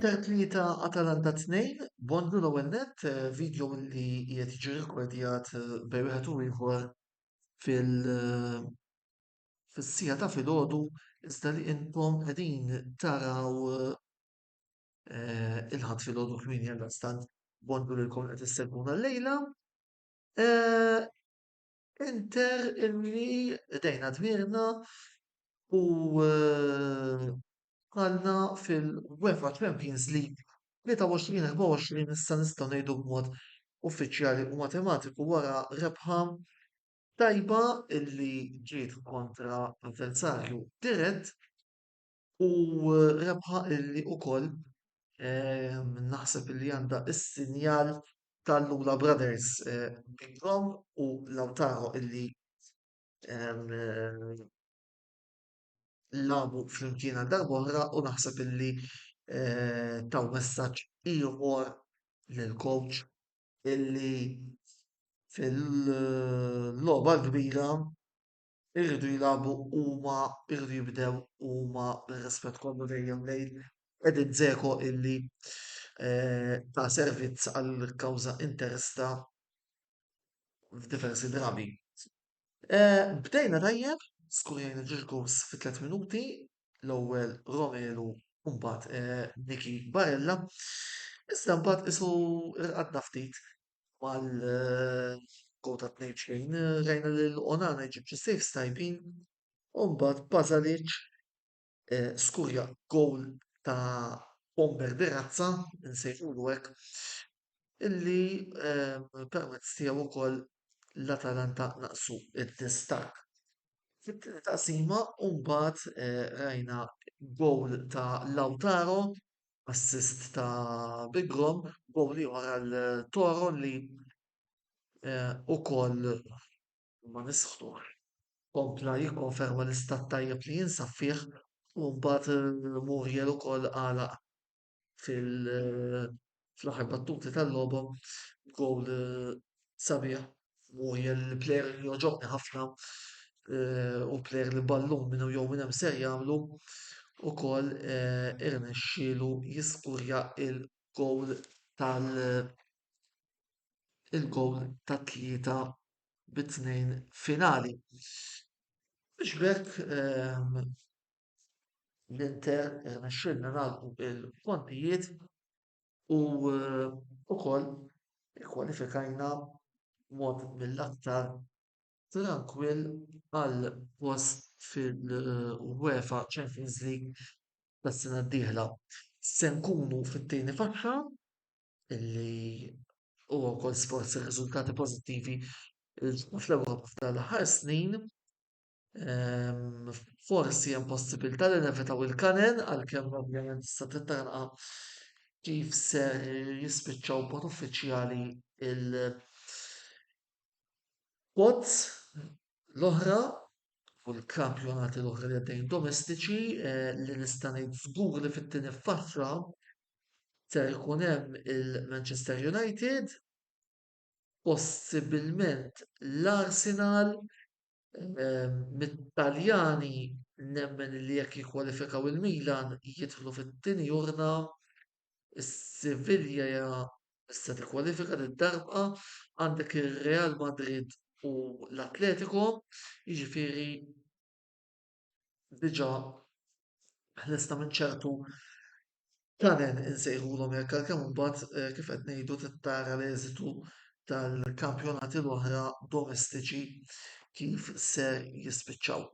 Inter tlieta Atalanta tnejn, Bondlu l-ewwel nett, eh, video li qiegħed jiġi rekordjat eh, bejn wieħed u ieħor fil eh, fis-sija ta' filgħodu iżda li intom qegħdin taraw il-ħadd filgħodu kmieni għal stant Bondlu lilkom qed issegwuna llejla. Inter illi qdejna dmirna u dħalna fil-UEFA Champions League 23-24 issa nistgħu ngħidu b'mod uffiċjali u matematiku wara rebħa tajba illi ġiet kontra avversarju dirett U rebħa illi ukoll naħseb illi għandha s-sinjal tal-Lula Brothers Bigrom u Lautaro illi lagħbu flimkien għal darb'oħra u naħseb illi taw messaġġ ieħor lill-coach illi fil-logħba l-kbira irridu jilagħbu huma irridu jibdew huma bir-rispett kollu dejjem lejn Edin Dzeko illi ta' servizz għall-kawża Interista f'diversi drabi. Bdejna tajjeb, skurajna ġiex goals fi tliet minuti, l-ewwel Romelu u mbagħad Nicky Barella. Iżda mbagħad isu rqadna ftit mal-goal ta' 2-2, rajna li l-Onana jġib xi saves tajbin u mbagħad Pasalic eh, skurja goal ta' bomber de razza, nsejħulu hekk, illi eh, permezz tiegħu wkoll l-Atalanta naqsu id-distak. Fit-tieni taqsima u mbagħad eh, rajna goal ta' Lautaro assist ta' Bigrom, gowl ieħor għal Toro li wkoll ma nisħqux kompla jikkonferma l-istat tajjeb li jinsab fih u mbagħad Muriel ukoll għalaq fil-aħħar battuti tal-logħba b'gowl sabiħ u l-plejer li joġobni ħafna u l-plejer li ballum minn jew minn hemm ser jagħmlu ukoll irnexxielu jiskurja l-gowl tal- il-gowl tat-tlieta bi tnejn finali. Biex b'hekk l-Inter irnexxielna nagħlqu l-kontijiet. U wkoll ikkwalifikajna b'mod mill-aktar trankwill għal post fil-UEFA Champions League tas-sena d-dieħla. Se nkunu fit-tieni faxxa li huwa wkoll sforz ir-riżultati pożittivi li ġibna fl-Ewropa f'dawn l-aħħar snin. Forsi hemm possibilità li nevitaw il-kanen għalkemm ovvjament tista' tittarqa kif ser jispiċċaw b'mod uffiċjali il-quads l-oħra u l-kampjonati l-oħra li għaddejjin domestiċi li nista' ngħid żgur li fit-tieni faxxa ser ikun hemm il-Manchester United. possibilment l-Arsenal mit-Taljani nemmen li jekk jikkwalifikaw il-Milan jidħlu fit-tieni urna, is-Sevilla se tikkwalifika din id-darba, għandek ir-Real Madrid u l-Atletico, jiġifieri diġà ħlesna minn ċertu kanen insejħulhom jekk għalkemm imbagħad eh, kif qed ngħidu tittara l-eżitu tal-kampjonati l-oħra domestiċi kif se jispiċċaw.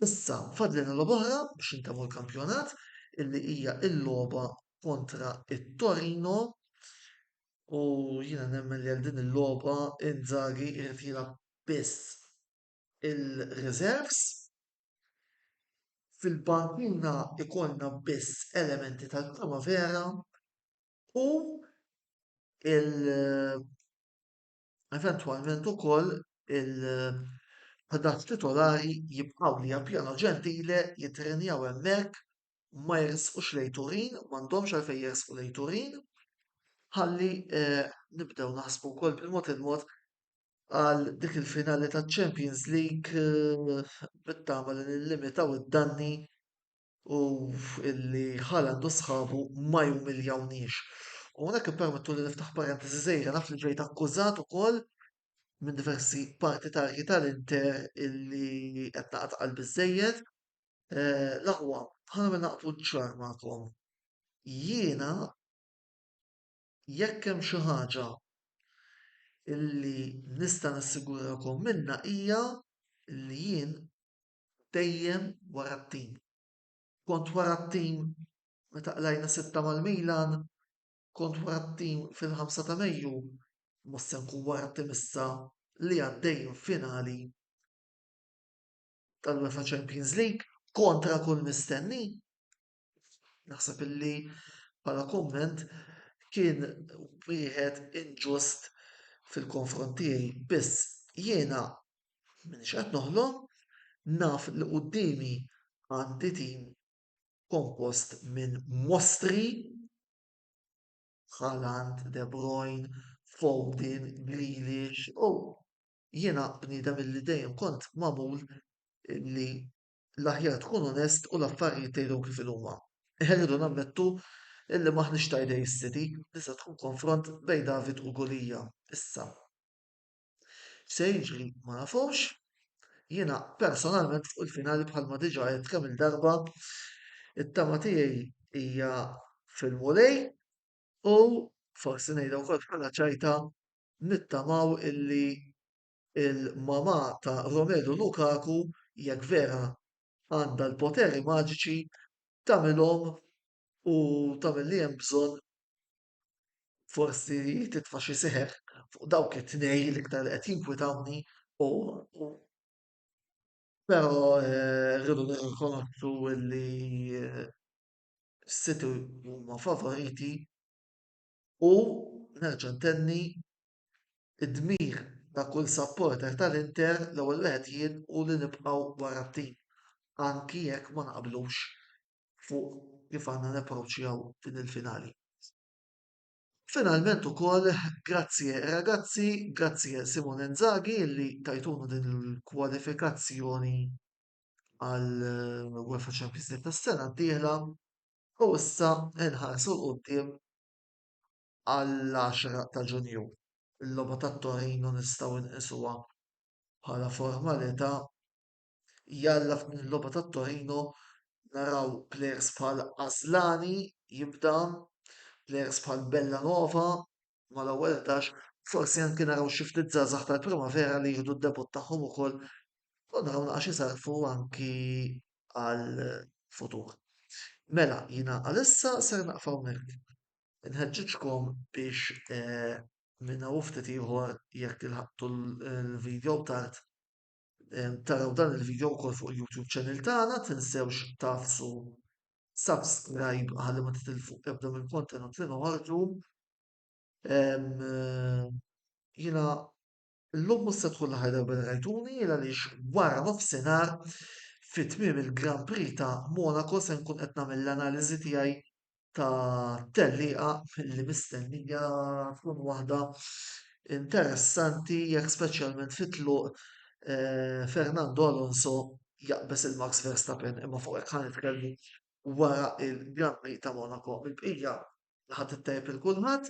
Issa fadlin il oħra biex intemmu l-kampjonat illi hija il-logħba kontra it-Torino u jiena nemmen li għal din il-logħba Inzaghi irid jilgħab biss il-riserves. Fil-bankuna ikollna biss elementi tal-primavera u eventwalment ukoll il-11 titolari jibqgħu li appjano ġentile jittrenjaw hemmhekk ma jersqux lejn Turin, m'għandhomx għalfejn jersqu lejn Turin, ħalli nibdew naħsbu wkoll bil-mod il-mod għal dik il-finali ta' Champions League eh, bittama li nillimitaw id-danni u illi Haaland u sħabu ma jumiljawniex. U għonek permettu li niftaħ parentesi zejra naf li ġejt akkużat ukoll minn diversi partitarji tal-Inter illi qed naqgħad qalbi żejjed. Eh, L-aħwa, ħana minn naqtu ċar magħkom. Jiena jekk hemm xi ħaġa li nista' nassigurakom minnha hija li jien dejjem wara t-tim. Kont wara t-tim meta qlajna sitta mal-Milan, kont wara t-tim fil-ħamsa ta' Mejju, mhux se nkun wara t-tim issa li għaddej minn finali tal-UEFA Champions League kontra kull mistenni. Naħseb illi bħala kumment kien wieħed inġust fil-konfront tiegħi, biss jiena m'iniex qed noħlom, naf li quddiemi għandi tim kompost minn mostri, Haaland, De Bruyne, Foden, Grealish u jiena bniedem illi dejjem kont magħmul illi l-aħjar tkun onest u l-affarijiet tgħidhom kif inhuma. Irridu nammettu illi m'aħniex ta' idej is-City li se tkun konfront bejn David u Gulija issa. X'se jiġri ma nafux. Jiena personalment fuq il-finali bħalma diġà għedt kemm-il darba it-tama tiegħi hija fil-Mulej u, forsi ngħidha wkoll bħala ċajta, nittamaw illi il-mamà ta' Romelu Lukaku jekk vera għandha l-poteri maġiċi tagħmilhom u tagħmel li hemm bżonn forsi titfa' xi seħer fuq dawk it-tnejn l-iktar li qed jinkwitawni u però rridu nirrikonoxxu li s-City huma favoriti u nerġa' ntenni Id-dmir ta' kull supporter tal-Inter l-ewwel wieħed jien hu li nibqgħu wara t-tim anki jekk ma naqblux fuq kif għandna napproċċjaw din il-finali. Finalment ukoll grazie ragazzi, grazie Simone Inzaghi li tajtunu din il-kwalifikazzjoni għal UEFA Champions League tas-sena d-dieħla u issa nħarsu 'l quddiem għall-10 ta' Ġunju. Il-logħba tat-Torino nistgħu nqisuha bħala formalità. Jalla f'din il-logħba tat-Torino naraw plejers bħal Aslani jibda, plejers bħal Bellanova mal-ewwel 11, forsi anki naraw xi ftit żgħażagħ tal-Primavera li jieħdu d-debutt tagħhom ukoll u naraw naqas isarrfu anki għall-futur. Mela jiena għalissa ser naqfa hawnhekk. Inħeġġiġkom biex eh, minn hawn ftit ieħor jekk ilħaqtu l-video tard eh, taraw dan il-video wkoll fuq il-YouTube channel tagħna, tinsewx tafsu subscribe ħalli ma titilfu ebda mill-kontenut li noħorġu. Eh, jiena Illum mhux se tkun l-aħħar darba li rajtuni għaliex wara nofsinhar fi tmiem il-Grand Prix ta' Monaco se nkun qed nagħmel l-analiżi tiegħi ta' tellieqa li mistennija tkun waħda interessanti jekk speċjalment fit-tluq Fernando Alonso jaqbeż lil Max Verstappen imma fuq hekk ħa nitkellmu wara l-Grand Prix ta' Monaco. Mill-bqija laħqet it-tajjeb lil kulħadd.